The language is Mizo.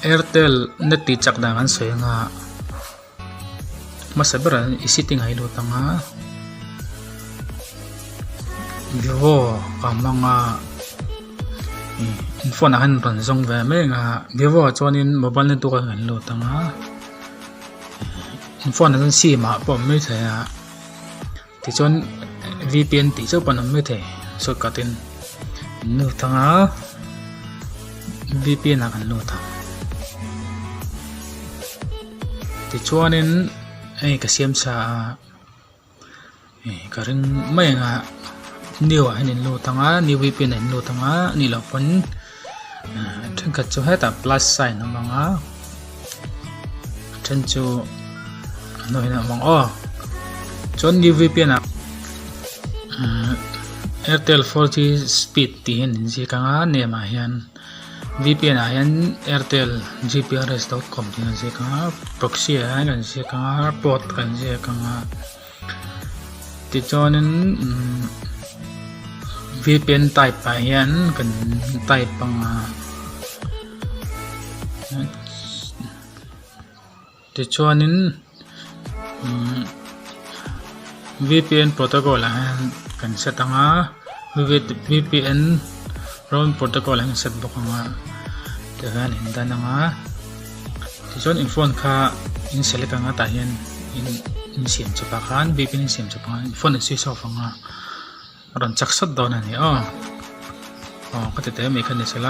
Airtel net tih chak dan kan sawi anga hmasa ber an i setting a hi lut ang a vivo ka hmang a in phone ah hian rawn zawng ve mai anga vivo ah chuanin mobile net tuk a nghen lut ang a in phone ah chuan sim ah pawh a mawi thei a. Tichuan vpn tih chauh pawh an awm mai thei short cut in an nu thang a vpn ah kan nu thang tichuanin hei ka siam sa a hei ka ring mai anga new ah hian in nu thang a new vpn ah in nu thang a ni loh pawn-- a thenkhat chu hetah plus sign a hmang a a then chu a hnuai hneh a hmang aw chuan new vpn ah umm airtel four g speed tih hian in ziak anga name ah hian vpn ah hian airtel gprs dot com tih a inziak anga proxy ah hian kan ziak anga port kan ziak anga. Tichuanin vpn type ah hian kan type anga tichuanin vpn protocol ah hian kan set anga vpn Round protocol an set bawk ang a, tah hian in dan ang a, tichuan in phone kha in select ang a, tah hian in in siam chep a khan bip in siam chep a, in phone a switch off ang a, a rawn chak sat dawn a ni aw, aw ka tete mai kha ni sela.